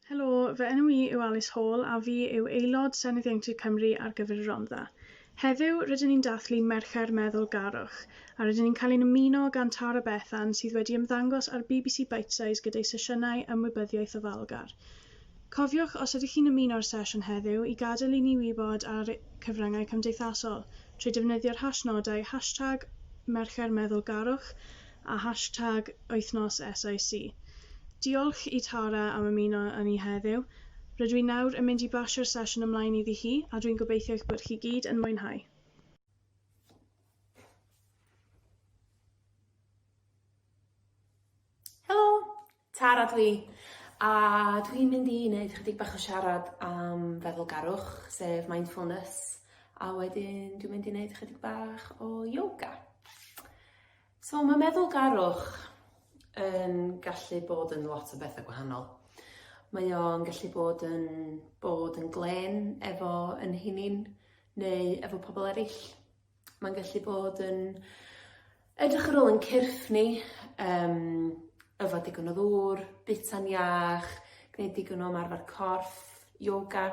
Helo, fy enw i yw Alice Hall a fi yw Aelod Senedd Ieuenctid Cymru ar gyfer y Rhondda. Heddiw, rydyn ni'n dathlu Mercher Meddwlgarwch, a rydyn ni'n cael ein ymuno gan Tara Bethan sydd wedi ymddangos ar bbc Bitesize gyda'i sesiynau ymwybyddiaeth ofalgar. Cofiwch, os ydych chi'n ymuno â'r sesiwn heddiw, i gadael i ni wybod ar cyfryngau cymdeithasol, trwy defnyddio'r hashnodau hashtag Mercher Meddwlgarwch a hashtag Wythnos SIC. Diolch i Tara am ymuno â ni heddiw. Rydw i nawr yn mynd i basio'r sesiwn ymlaen iddi hi a dwi'n gobeithio eich bod chi gyd yn mwynhau. Tara dw i, a dw i'n mynd i neud ychydig bach o siarad am feddwlgarwch, sef mindfulness, a wedyn dwi'n mynd i neud ychydig bach o yoga. So mae meddwlgarwch yn gallu bod yn lot o bethau gwahanol. Mae o'n gallu bod yn bod yn glên efo yn hunin neu efo pobl eraill. Mae'n gallu bod yn edrych ar ôl yn cyrff ni, um, yfod digon o ddŵr, bita'n iach, gwneud digon o ymarfer corff, yoga.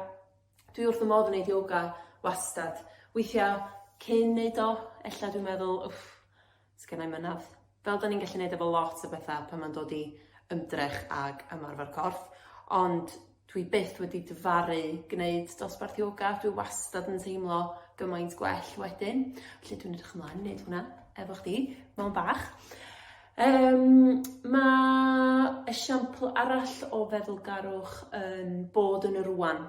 Dwi wrth y modd yn gwneud yoga wastad. Weithiau cyn wneud o, ella dwi'n meddwl, wff, Sgennai mynadd. Fel da ni'n gallu neud efo lot o betha pan ma'n dod i ymdrech ag ymarfer corff ond dwi byth wedi difaru gneud dosbarth ioga dwi wastad yn teimlo gymaint gwell wedyn felly dwi'n edrych ymlaen i neud hwnna efo chdi mawn bach. Yym ma' esiampl arall o feddwlgarwch yn bod yn y rŵan.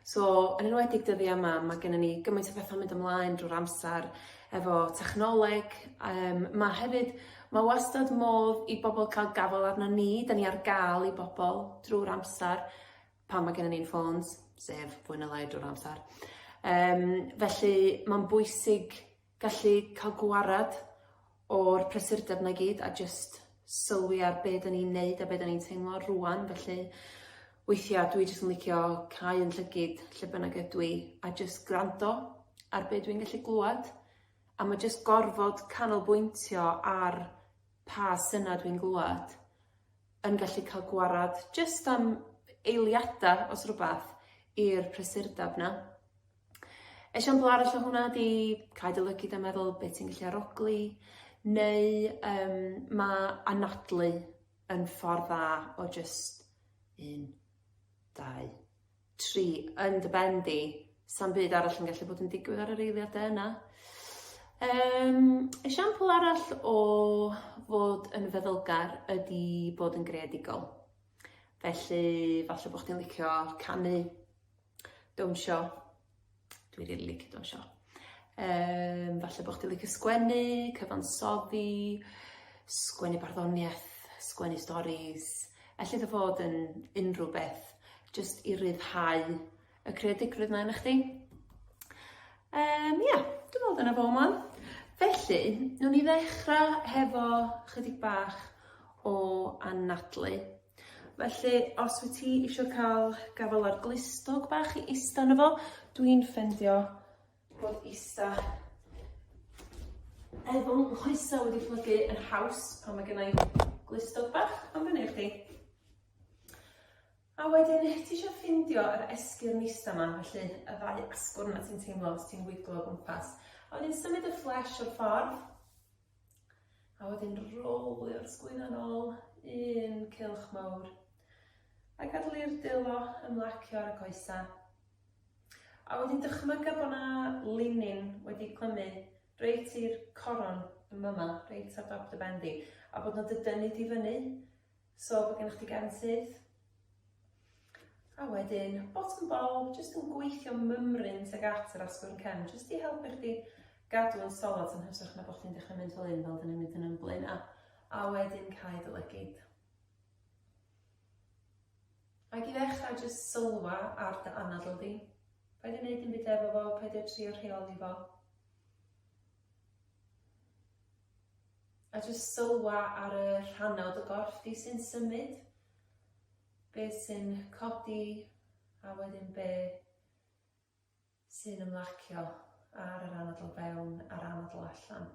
So, yn enwedig dyddi yma, mae gennym ni gymaint o bethau'n mynd ymlaen drwy'r amser efo technoleg. Um, mae hefyd, mae wastad modd i bobl cael gafael arno ni, da ni ar gael i bobl drwy'r amser pan mae gennym ni'n ffôns, sef fwy na lai drwy'r amser. Um, felly, mae'n bwysig Gallu cael gwared o'r prysurdeb 'na i gyd a jyst sylwi ar be' 'dan ni'n neud a be' 'dan ni'n teimlo rŵan felly weithia' dwi jyst yn licio cau 'yn llygid lle bynnag ydw i a jyst gwrando ar be' dwi'n gallu glwad a ma' jyst gorfod canolbwyntio ar pa synna dwi'n glwad yn gallu ca'l gwared jyst am eiliada os rwbath i'r prysurdeb 'na. Esiampl arall o hwnna ydi cael dy lygid a meddwl be' ti'n gallu arogli neu yym ma' anadlu yn ffordd dda o jyst un, dau, tri yn dy ben di, sa'm byd arall yn gallu bod yn digwydd ar yr eiliade yna. Yym esiampl arall o fod yn feddylgar ydi bod yn greadigol. Felly falle bo' chdi'n licio canu, Dawnsio. Dwi rili licio dawnsio. Yym falle bo' chdi'n licio sgwennu, cyfansoddi, sgwennu barddoniaeth, sgwennu storis, elli di fod yn unrhyw beth jyst i ryddhau y creadigrwydd 'na ynoch chdi. Yym ia, dwi me'wl dyna fo am ŵan. Felly, newn ni ddechra hefo chydig bach o anadlu. Felly, os wyt ti eisiau cael gafael ar glustog bach i ista yno fo, dwi'n ffendio bod ista efo nghoesau wedi plygu yn haws pan mae gennau glustog bach am fyny i chdi. A wedyn, ti eisiau ffindio yr esgyrn ista yma, felly y ddau asgwrn na ti'n teimlo os ti'n wiglo o gwmpas. A wedyn symud y fflesh o'r ffordd, A wedyn rolio'r sgwydda'n ôl, un cylch mawr. A gadw'r dwylo ymlacio ar y coesau. A wedyn dychmyga bod yna linyn wedi clymu reit i'r coron yn fama, reit ar dop dy ben di, a bod nhw wedi dynnu di fyny. So bod gennych chi gefn syth. A wedyn, bottom bow, jyst yn gweithio mymryn tuag at yr asgwrn cefn, jyst i helpu chdi gadw yn solid yn hytrach na bod chdi'n dechrau mynd fel un fel dyn ni'n mynd yn ymblyn a, a wedyn cael dy lygyd. Ac i ddechrau jyst sylwa ar dy anadl di. Paid i wneud yn byd efo fo, paid i trio rheoli fo. A jyst sylwa ar y rhannau o dy gorff di sy'n symud. Be sy'n codi a wedyn be sy'n ymlacio ar yr anadl fewn a'r anadl allan.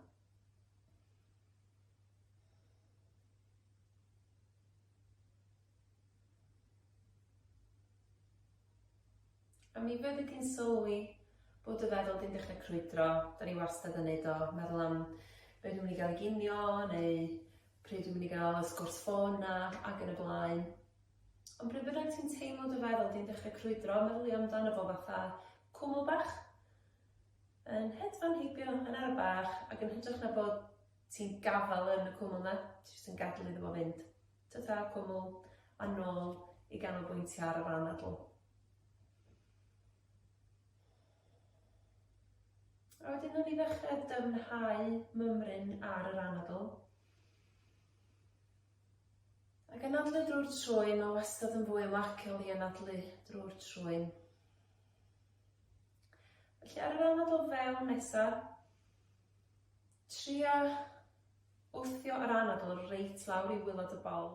A mi fyddi di'n sylwi bod dy feddwl di'n dechrau crwydro, da ni wastad yn neud o, meddwl am be dwi'n mynd i gael i ginio neu pryd dwi'n mynd i gael y sgwrs ffôn 'na ac yn y blaen. Ond pryd bynnag ti'n teimlo dy feddwl di'n dechrau crwydro, meddylia amdano fo fatha cwmwl bach, yn hedfan heibio yn ara bach ac yn hytrach na bod ti'n gafal yn y cwmwl 'na, ti jyst yn gadel iddo fo fynd. Tata, cwmwl, a nôl i ganolbwyntio ar yr anadl. A wedyn nawn ni ddechrau dyfnhau mymryn ar yr anadl. Ac anadlu drwy'r trwy, mae wastad yn fwy ymlaciol i anadlu drwy'r trwy. Felly ar yr anadl fewn nesaf, Tria wthio yr anadl reit lawr i wylod y bol.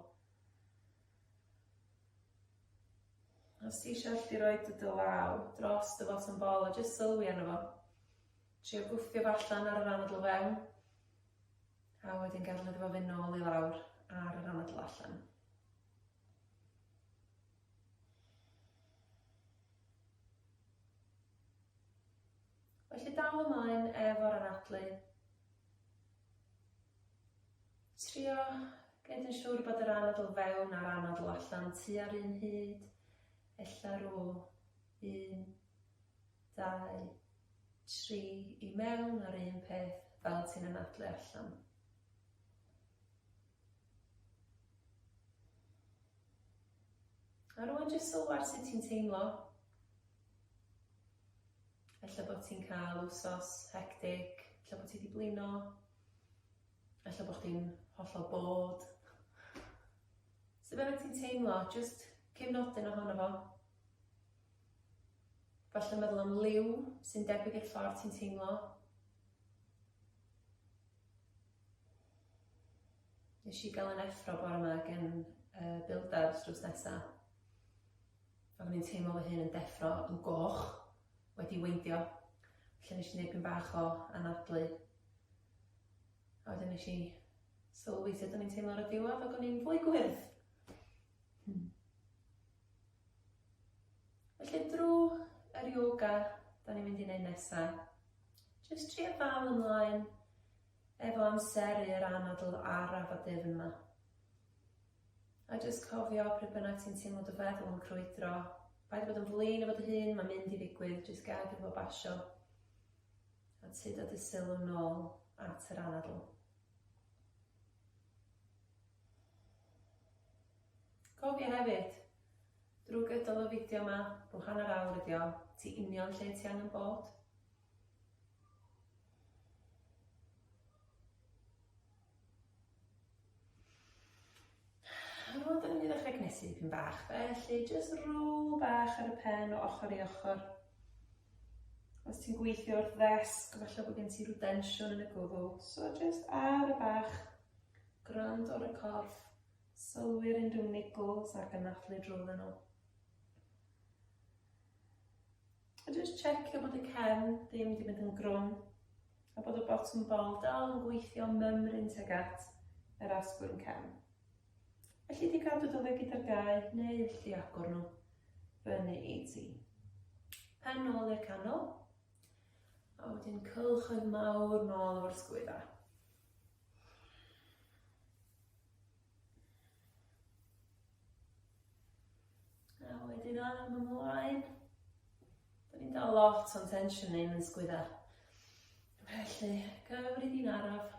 Os ti eisiau allu roi dy dy law dros dy fotwm bol a jyst sylwi arno fo. Tria gwthio fo allan ar yr anadl fewn. A wedyn gadael iddo fo fynd nôl i lawr ar yr anadl allan. Felly dal ymlaen efo'r anadlu. Trio gwneud yn siŵr bod yr anadl fewn a'r anadl allan tua'r un hyd. Ella rôl 1, 2, 3 i mewn ar un peth fel ti'n anadlu allan. A rwan jyst sylw ar sut ti'n teimlo. Ella bod ti'n cael wsos hectic, ella bod ti wedi blino, ella bod chdi'n hollol bod. Sut bynnag ti'n teimlo, jyst cefnodyn ohono fo. Falle meddwl am liw sy'n debyg i'r ffordd ti'n teimlo. Nes i gael yn effro bore yma gen uh, builders drws nesa. A o'n i'n teimlo fy hun yn deffro yn goch, wedi weindio. Felly nes i wneud pyn bach o anadlu. A wedyn nes i sylwi sut o'n i'n teimlo ar y diwedd ac o'n i'n fwy gwyrdd. Hmm. Felly drwy yr yoga, da ni'n mynd i wneud nesaf. Jyst trio dal ymlaen efo amseru yr anadl araf a dyfn 'ma. A jyst cofio, pryd bynnag ti'n teimlo dy feddwl yn crwydro, paid â bod yn flin efo dy hun, mae'n mynd i ddigwydd, jyst gad iddo fo basio, a tyd dy sylw nôl at yr anadl. Cofio hefyd, drwy gydol y fideo yma, rhyw hanner awr ydi o, ti union lle ti angen bod. Roedd yn ddechrau cnesu dipyn bach, felly jyst rôl bach ar y pen o ochr i ochr. Os ti'n gweithio o'r ddesg, falle bod gen ti rhyw densiwn yn y gwddw, so jyst ar y bach, gwrando ar y corff, sylwi'r unrhyw niggles a'r gynathlu drwydden nhw. A jyst checio bod y cefn ddim wedi mynd yn grwn a bod y bottom bol dal yn gweithio mymryn tuag at yr asgwrn cefn. Felly di gadw dy le gyda'r gau neu allu agor nhw fyny i ti. Pen nôl i'r canol a wedyn cylchoedd mawr nôl o'r sgwydda. A wedyn arm ymlaen. Da ni'n dal lot o'n tensiwn ein yn sgwydda. Felly, cyfrif i'n araf.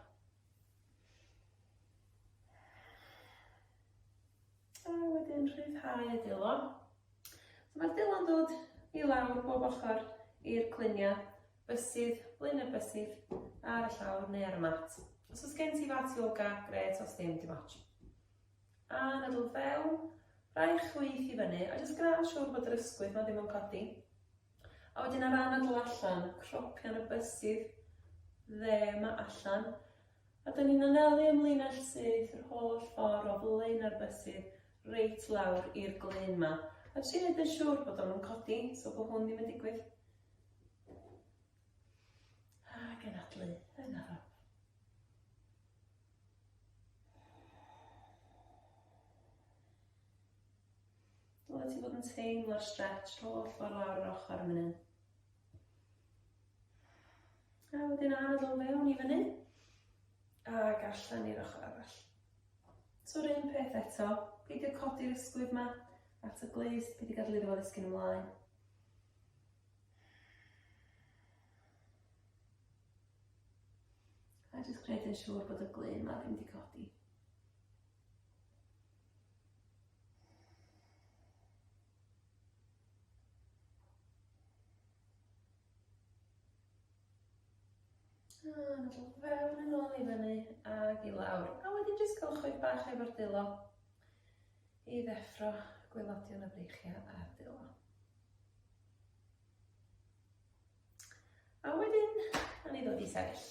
A wedyn rhyddhau y dilo. So mae'r dilo'n dod i lawr bob ochr i'r cluniau. Bysydd, blin y bysydd, ar y llawr neu ar y mat. Os oes gen ti fat yoga, gret, os ddim, dim ots. A nadl fewn, rhai chwith i fyny, a jyst gwna'n siŵr bod yr ysgwydd ma ddim yn codi. A wedyn ar anadl allan, cropian y bysydd, dde ma allan. A dyn ni'n anelu ymlaen â syth yr holl ffordd o flaen ar bysydd, reit lawr i'r glyn ma. A ti'n edrych siŵr bod o'n codi, so bod hwn ddim yn digwydd. Ac yn adlu yn araf. Dyle ti fod yn teimlo'r stretch holl ffordd lawr yr ochr yn mynd. A wedyn anodd o fewn i fyny. Ac allan i'r ochr arall. So'r un peth eto, peidio codi'r ysgwydd yma at y glust, peidio gadael iddo fo ddisgyn ymlaen. A jyst gwneud yn siŵr bod y glun yma ddim wedi codi. i lawr. A wedyn jyst cylchoedd bach efo'r dwylo. I ddeffro, gwaelodion y breichiau a'r dwylo. A wedyn, a ni ddod i sefyll.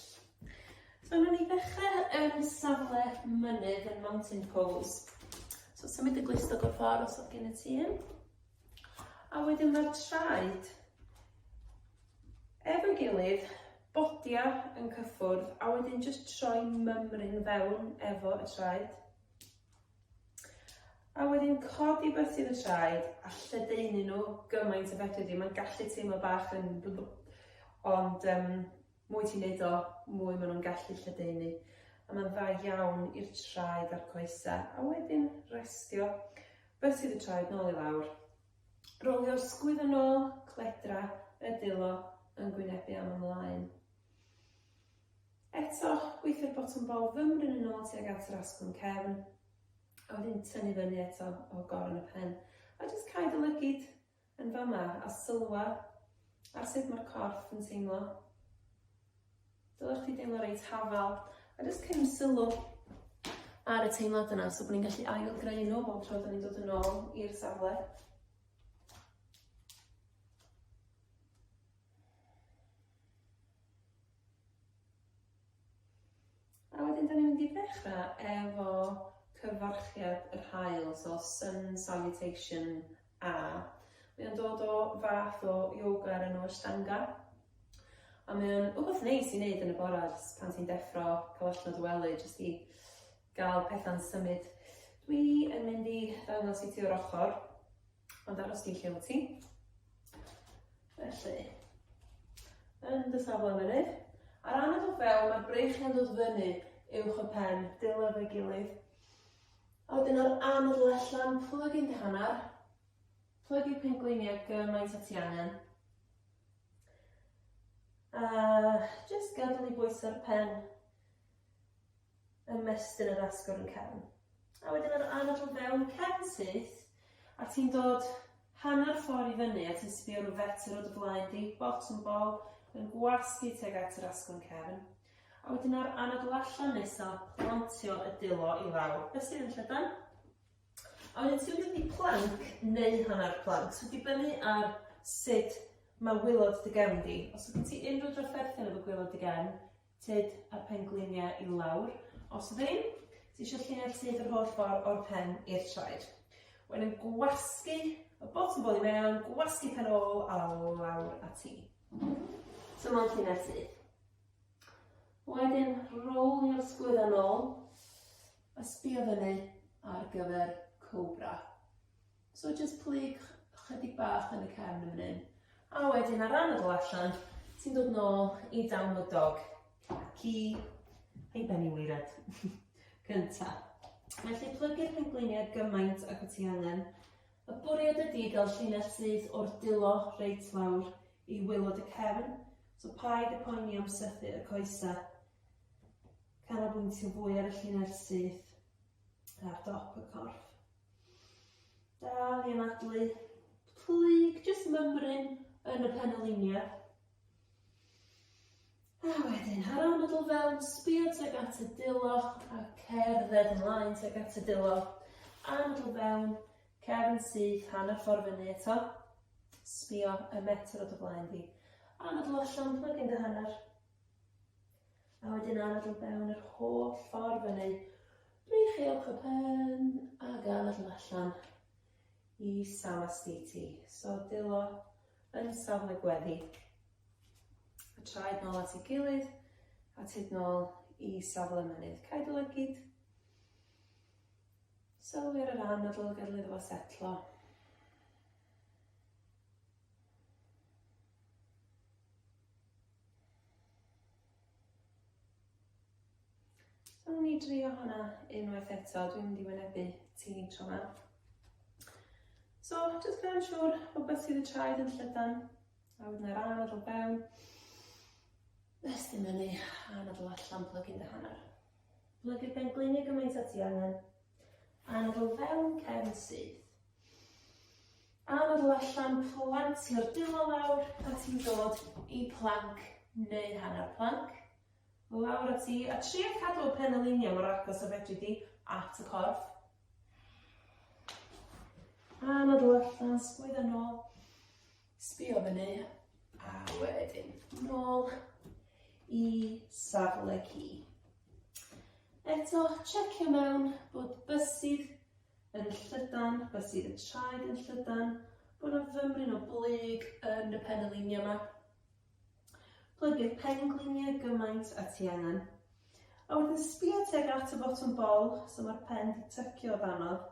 So, na ni ddechrau yn safle mynydd yn mountain pose. So, symud y glistog o'r ffordd os oedd gen y ti un. A wedyn mae'r traed efo'i gilydd, bodia yn cyffwrdd, a wedyn jyst troi mymryn fewn efo y traed. A wedyn codi bysydd y traed a lledaenu nhw gymaint o fedri di. Mae'n gallu teimlo bach yn bl- ond um, mwy ti'n neud o, mwy maen nhw'n gallu lledaenu. A mae'n dda iawn i'r traed a'r coesau. A wedyn restio bysydd y traed nôl i lawr. Rolio sgwydd yn ôl, cledra, y dilo yn gwynebu am ymlaen. Eto, gweithio'r botwm bol fymryn yn ôl tuag at yr asgwrn cefn, a wedyn tynnu fyny eto o goron y pen. A jyst cau dy lygid yn fama a sylwa ar sut mae'r corff yn teimlo. Dylech chdi deimlo reit hafal, a jyst cynnig sylw ar y teimlad yna, so bod ni'n gallu ail-greu nhw bob tro da ni'n dod yn ôl i'r safle. A wedyn, da ni'n mynd i ddechrau efo cyfarchiad yr haul, so sun salutation A. Mae o'n dod o fath o yoga o'r enw Ashtanga, a mae o'n wbath neis i wneud yn y bore pan ti'n deffro, cael allan o dy wely, jyst i gael pethau'n symud. Dwi yn mynd i ddangos i ti o'r ochr. Ond aros ti'n lle wyt ti. Felly, yn dy safle mynydd. Ar ran y fel, mae'r breichiau yn dod fyny uwch y pen, dilyn fe gilydd. A wedyn o'r anodd allan, plwyg i'n dyhannar, plwyg i'r pengweiniau gymaint at i angen. A just gadw i bwysau'r pen ymestyn yr asgwrn yn cefn. A wedyn yr anad o fewn cefn syth, a ti'n dod hanner ffordd i fyny a ti'n sbio rhyw fetr o dy flaen di, bottom ball, yn gwasgu teg at yr asgwrn cefn. A wedyn ar anad o allan nesa, plantio y dilo i lawr. Be sydd yn llydan? A wedyn ti'n mynd i planc neu hanner planc. So dibynnu ar sut mae wylod dy gefn di. Os ydyn ti unrhyw drafferthion efo gwylod dy gefn, Tyd a'r pengliniau i lawr, os ddim, ti eisiau llinell tyd yr holl ffordd o'r pen i'r traed. Wedyn yn gwasgu y bot yn bol i mewn, gwasgu pen ôl a lawr a ti. So mae'n llinell tyd. Wedyn rowlio'r sgwydda nôl a sbio fyny ar gyfer cobra. So jyst plyg chydig bach yn y cefn yn fan hyn. A wedyn ar ran y ddol allan, ti'n dod nôl i down the dog. Ac i ei ben i weired. Cynta. Felly plygu'r pengliniau gymaint ac wyt ti angen. Y bwriad ydy gael llinell syth o'r dilo reit lawr i wylod y cefn, so paid y poeni am sythu y coesau. Canolbwyntio fwy ar y llinell syth ar dop y corff. Dal i anadlu. Plyg, jyst mymryn yn y penolinia. A wedyn, ar ôl meddwl fewn, sbio tuag at y dilo a cerdded ymlaen tuag at y dilo. A meddwl fewn, cefn syth, hanner ffordd fyny eto. Sbio y metr o dy flaen di. A meddwl allan, plyg yn dy hanner. A wedyn arall o fewn yr holl ffordd fyny. Breichiwch y pen a gael allan allan i Samastiti. So dilo yn safle gweddi. A traed nôl at ei gilydd a tyd nôl i safle mynydd. Cael dy lygyd. Sylwi ar yr anadl gadw iddo fo setlo. Wnawn ni drio hwnna unwaith eto, dwi'n mynd i wynebu ti tro yma. So, jyst gwneud yn siŵr bod beth sydd y traed yn llydan, a wedyn ar ran o fewn, estyn fyny, a nad o allan plygu'n dy hanner. Plygu pen glinig gymaint â ti angen, a nad o fewn cefn syth. A nodl allan, plantio'r dwylo lawr a ti'n dod i planc neu hanner planc. Lawr a ti, a tria cadw y pen alineio mor agos a fedri di at y corff. A nodl allan, sgwydda nôl, sbio fyny, a wedyn nôl i safle ci. Eto, checio mewn bod bysydd yn llydan, beth sydd yn traed yn llydan, bod yna fymryn o blyg yn y penyliniau yma. Plygu'r pengliniau gymaint a ti angen. A wedyn sbio teg at y botwm bol, so mae'r pen di tycio o danodd.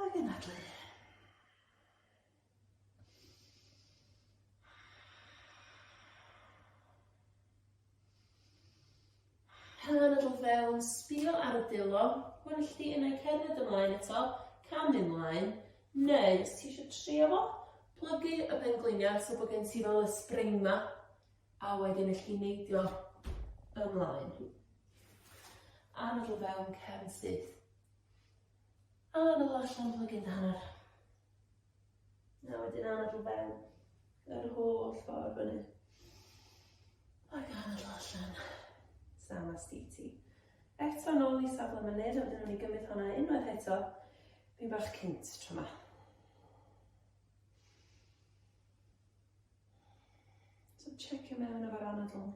Ac yn adlu. Pen y drwg fewn, sbio ar y dilo, gwell di yn ei cerdded ymlaen eto, cam ymlaen, neu os ti eisiau trio fo, plygu y pen gliniau so bod gen ti fel y spring ma, a wedyn y chi neidio ymlaen. Anadl fewn cefn syth. A yn ôl allan fel y gyd a hanner. A wedyn anadl fewn. Yr holl ffordd fyny. Ac anadl allan. Sam a sgiti. Eto nôl i safle mynydd, a wedyn o'n i gymryd hwnna unwaith eto. Fi'n bach cynt tro ma. So checio mewn efo'r anadl.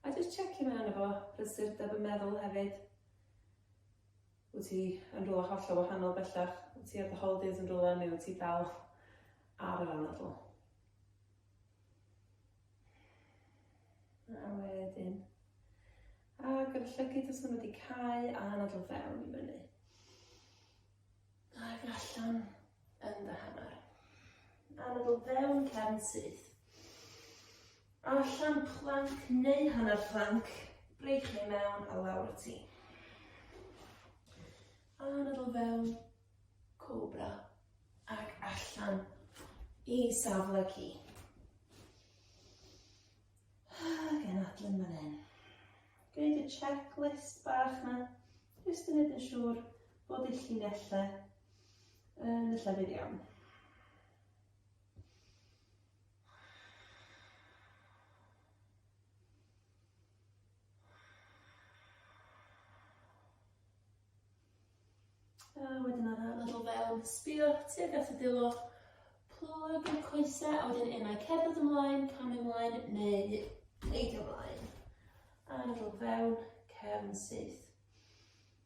A jyst checio mewn efo prysurdeb y meddwl hefyd. Wyt ti yn rhywle hollol wahanol bellach? Wyt ti ar dy holidays yn rhywle neu wyt ti dal ar yr anadl? A wedyn, ac yr llygyd os maen nhw wedi cau a anadl fewn i fyny. Ac allan. yn dy hanner. Anadl fewn cefn syth. Allan planc neu hanner planc, breich neu mewn a lawr y ti. Anadl fewn, cobra, ac allan i safle ci. Ac yn adlun fan hyn. Gwneud y checklist bach na, jyst yn edrych yn siŵr bod eich llinellau yn y llefydd iawn. A wedyn ar y lefel fel sbio tuag at y dilo, plwg yn y coesau, a wedyn unau cerdded ymlaen, cam ymlaen, neu neidio ymlaen. A lefel fewn, cefn syth.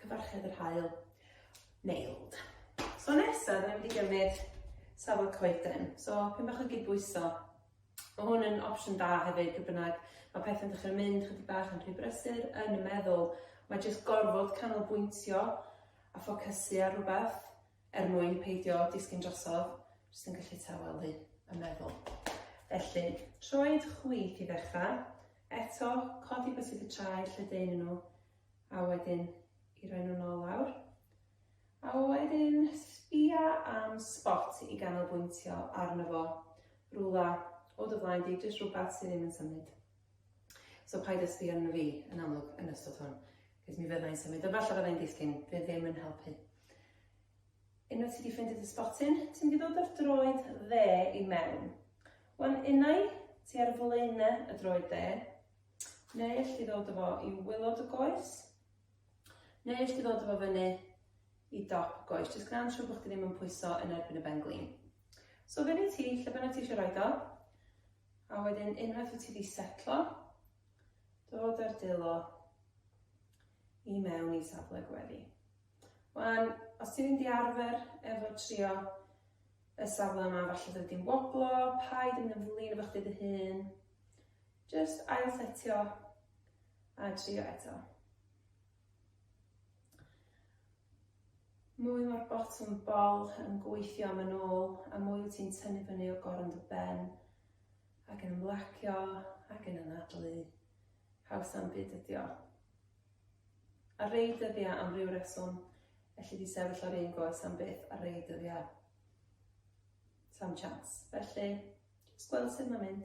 Cyfarched yr haul. Nailed. So nesa, da ni'n mynd i gymryd safon coeden. So, pyn bach o gydbwyso. Mae hwn yn opsiwn da hefyd, gyda bynnag. Mae pethau'n dechrau mynd chydig bach yn rhy brysur yn y meddwl. Mae jyst gorfod canolbwyntio a ffocysu ar rhywbeth er mwyn peidio disgyn drosodd, jyst yn gallu tawelu y meddwl. Felly, troed chwith i ddechrau, eto, codi beth sydd y traed lle dyn nhw, A wedyn i roi nhw'n ôl lawr. A wedyn sbia am spot i ganolbwyntio arno fo. Rwla o dy flaen di, jyst rhywbeth sydd ddim yn symud. So paid â sbio arno fi yn amlwg yn ystod hwn, cos mi fyddai'n symud, a falle fyddai'n disgyn, fe ddim yn helpu. Unwaith ti wedi ffeindio dy sbotyn, ti'n mynd i ddod o'r droed dde i mewn. Wan unai ti ar flaenau y droed dde, Neu elli di ddod â fo i wilod y goes. Neu elli di ddod â fo fyny i dop y goes. Jyst gwna'n siŵr bod chdi ddim yn pwyso yn erbyn y ben glin. So fyny ti, lle bynnag ti eisiau rhoi do. A wedyn unwaith wyt ti wedi setlo, dod ar dilo i mewn i safle gweddi. Wan, os ti'n mynd i arfer efo trio y safle yma, falle dwi wedi'n woblo, paid yn mynd yn flin efo chdi dy hun, Jyst ailsetio a trio eto. Mwy mae'r botwm bol yn gweithio am yn ôl, a mwy wyt ti'n tynnu fyny o gorn dy ben, ac yn ymlacio, ac yn anadlu. Haws am byd ydi o. A rei dyddiau am ryw reswm, felly di sefyll ar un goes am byth a rei dyddiau sam chance. Felly, jyst gweld sydd mae'n mynd.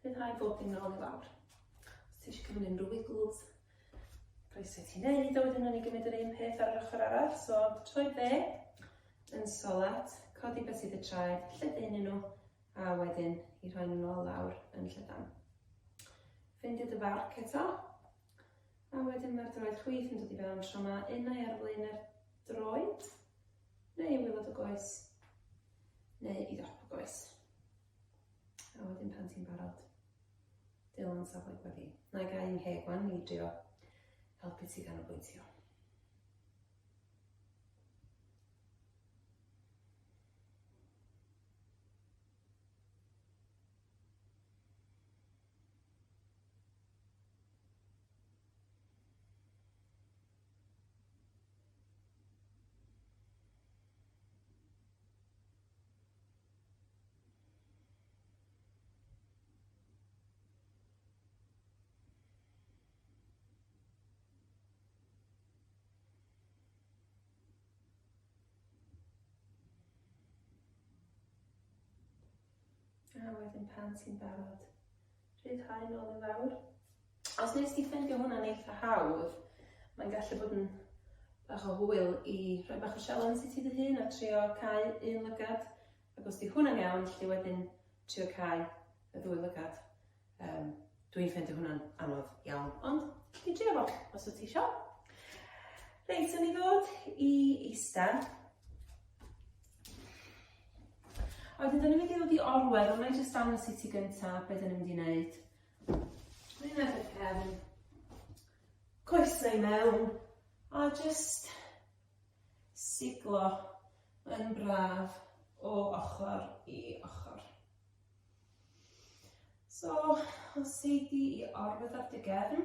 Bydd rhaid bod dim nôl i lawr. Os ti eisiau cymryd unrhyw wiggles, croeso ti'n neud, a wedyn o'n i gymryd yr un peth ar yr ochr arall, so troi be, yn solet, codi beth sydd y traed, lledaenu nhw, a wedyn i rhoi nhw'n ôl lawr yn llydan. Ffeindio dy farc eto, a wedyn mae'r droed chwith yn dod i fewn tro yma, unau ar flaen yr droed, neu i wylod y goes, neu i ddop y goes. A wedyn pan ti'n barod, Dylan safle gweddi. Na i gael ngheg wan i drio helpu ti ganolbwyntio. A wedyn pan ti'n barod, Rhyddhau nôl yn fawr. Os nes ti ffendio hwnna'n eitha hawdd, mae'n gallu bod yn bach o hwyl i rhoi bach o sialens i ti dy hun a trio cau un lygad, ac os di hwnna'n iawn, lli wedyn trio cau y ddwy lygad. Um, Dwi'n ffendio hwnna'n anodd iawn, ond lli trio fo, os wyt ti eisiau. Reit, yn i ddod i eista. A wedyn, da ni'n mynd i ddod i orwedd, ond na i jyst dangos i ti gyntaf beth da ni'n mynd i wneud. Dwi'n mynd i'r cefn, coesau i mewn, a jyst siglo yn braf o ochr i ochr. So, os ei di i orwedd ar dy gefn,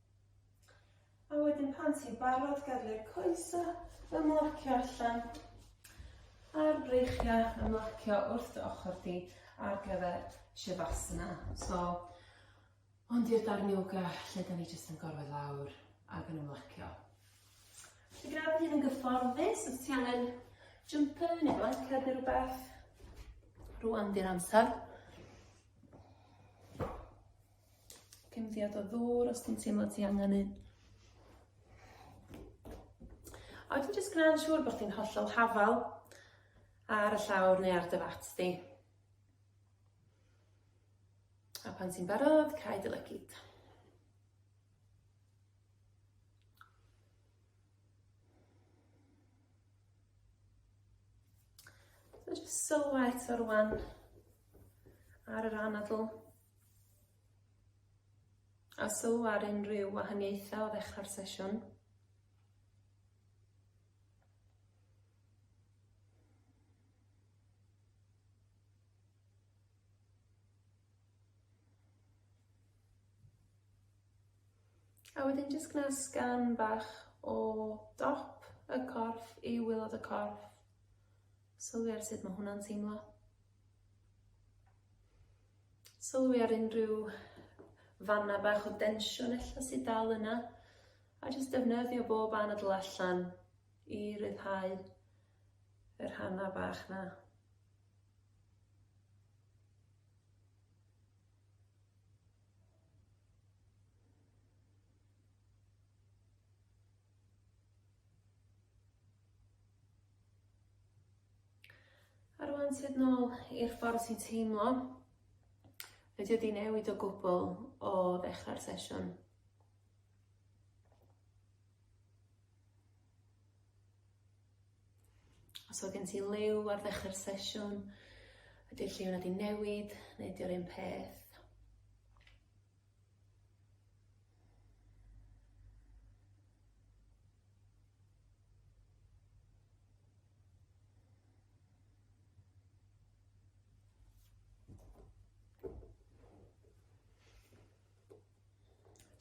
A wedyn pan ti'n barod gadw'r coesa ymlacio allan a'r breichiau ymlacio wrth dy ochr di ar gyfer Shavasana. So, hwn di'r darn yoga lle da ni jyst yn gorwedd lawr ac yn ymlacio. Felly gyda bod hyn yn gyfforddus, os ti angen jumper neu blanced neu rhywbeth, rwan di'r amser. Cymddiad o ddŵr os ti'n teimlo ti angen un. A wedyn jyst gwneud siŵr bod chdi'n hollol hafal ar y llawr neu ar dy fat di. A pan ti'n barod, cael dy lygyd. So jyst sylwa eto rwan ar yr anadl. A sylw ar unrhyw wahaniaethau o ddechrau'r sesiwn? A wedyn jyst gwna sgan bach o dop y corff i waelod y corff, sylwi ar sut ma' hwnna'n teimlo. Sylwi ar unrhyw fanna bach o densiwn ella sydd dal yna, a jyst defnyddio bob anadl allan i ryddhau y rhannau bach na. A rwan sydd nôl i'r ffordd ti'n teimlo. Fedri wedi newid o gwbl o ddechrau'r sesiwn. Os oedd gen ti liw ar ddechrau'r sesiwn, ydy'r lliw wedi newid neu ydy'r un peth?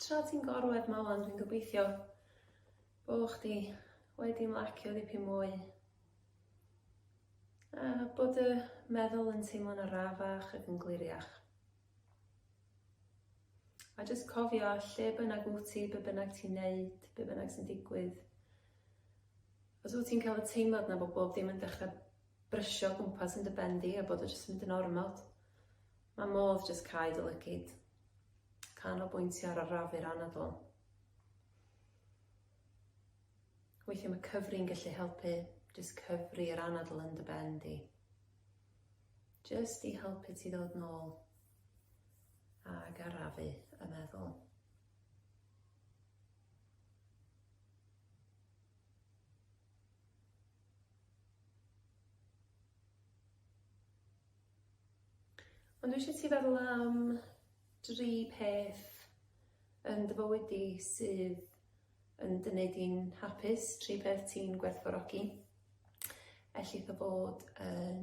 Tra ti'n gorwedd ma ŵan dwi'n gobeithio bo chdi wedi ymlacio dipyn mwy a bod y meddwl yn teimlo'n arafach ac yn gliriach. A jyst cofio, lle bynnag wyt ti, be bynnag ti'n neud, be bynnag sy'n digwydd, os wyt ti'n cael y teimlad na bod bob dim yn dechrau brysio o gwmpas yn dy ben di a bod o jyst yn mynd yn ormod, mae modd jyst cau dy lygid, canolbwyntio ar arafu'r anadl. Weithiau mae cyfri'n gallu helpu, jyst cyfri yr anadl yn dy ben di. Jyst i helpu ti ddod nôl Ag arafu y meddwl. Ond dwi eisiau ti feddwl am dri peth yn dy fywyd di sydd yn dy wneud di'n hapus, tri peth ti'n gwerthfawrogi. Ellith o fod yn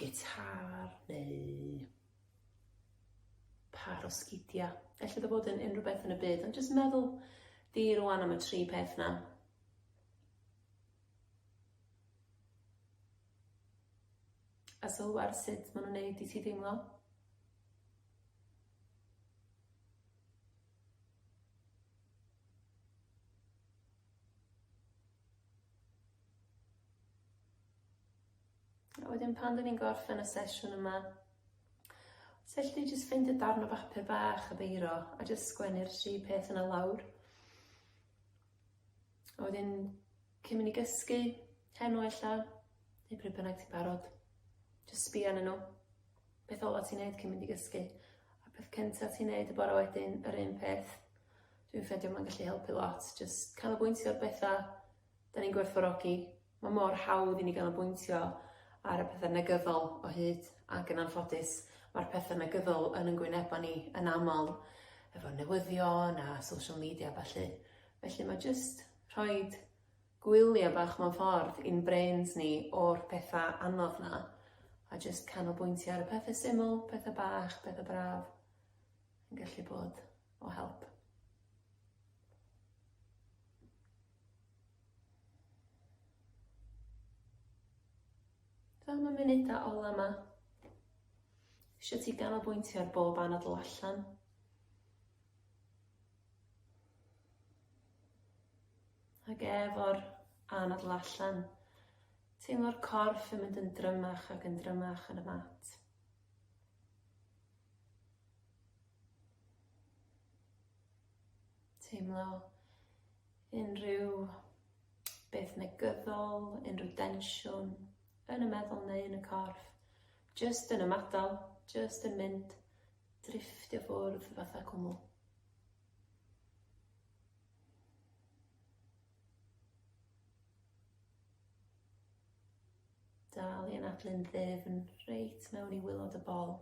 gitâr neu pâr o sgidiau. Felly dda bod yn unrhyw beth yn y byd, ond jyst meddwl di rwan am y tri peth na. A sylw ar sut maen nhw'n neud i ti deimlo. A wedyn pan dyn ni'n gorffen y sesiwn yma, os elli di jyst ffeindio darn o bapur bach a beiro a jyst sgwennu'r tri peth yna lawr. A wedyn cyn mynd i gysgu, heno ella, neu pryd bynnag ti'n barod, jyst sbio arnyn nhw. Beth ola ti'n neud cyn mynd i gysgu. A peth cynta ti'n neud y bore wedyn, yr un peth. Dwi'n ffeindio mae'n gallu helpu lot. Jyst canolbwyntio ar bethau da ni'n gwerthfawrogi Mae mor hawdd i ni ganolbwyntio ar y pethau negyddol o hyd, ac yn anffodus, mae'r pethau negyddol yn yn gwynebau ni yn aml, efo newyddion a social media a ballu. Felly mae jyst rhoid gwyliau bach mewn ffordd i'n brains ni o'r pethau anodd 'na, a jyst canolbwyntio ar y pethe syml, pethe bach, pethe braf, yn gallu bod o help. Dw am y munudau ola yma. Eisiau ti ganolbwyntio ar bob anadl allan. Ac efo'r anadl allan, teimlo'r corff yn mynd yn drymach ac yn drymach yn y mat. Teimlo Unrhyw beth negyddol, unrhyw densiwn yn y meddwl neu yn y corff, jyst yn ymadael, jyst yn mynd, drifftio ffwrdd fatha cwmwl. Dal i anadlu'n ddyfn reit mewn i wylod y bol.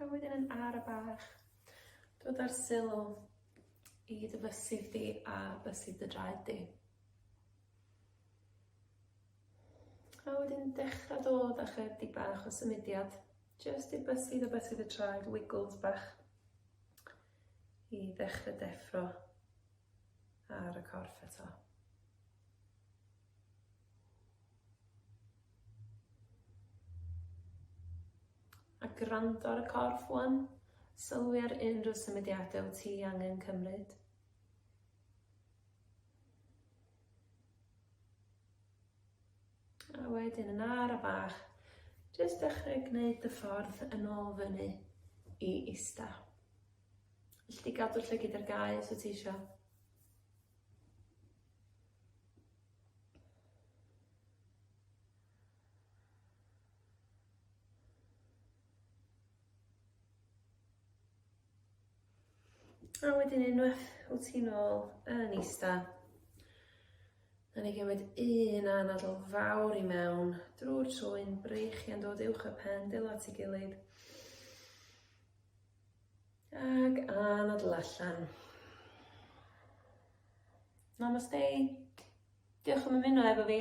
A wedyn yn ara bach, dod â'r sylw i dy fysydd di a bysydd dy draed di. A wedyn dechra dod â chydig bach o symudiad. Jyst i bysu dy bysu dy traed, wiggles bach i ddechrau deffro ar y corff eto. a gwrando ar y corff wan, sylwi ar unrhyw symudiadau wyt ti angen cymryd. A wedyn yn ara bach, jyst dechrau gwneud dy ffordd yn ôl fyny i ista. Felly di gadw'r llygyd ar gau os wyt ti eisiau. A wedyn unwaith wyt ti'n ôl yn ista, a ni gymryd un anadl fawr i mewn drwy'r trwyn, breichiau'n dod uwch y pen, dwylo at ei gilydd, ac anadl allan. Namaste. Diolch am ymuno efo fi.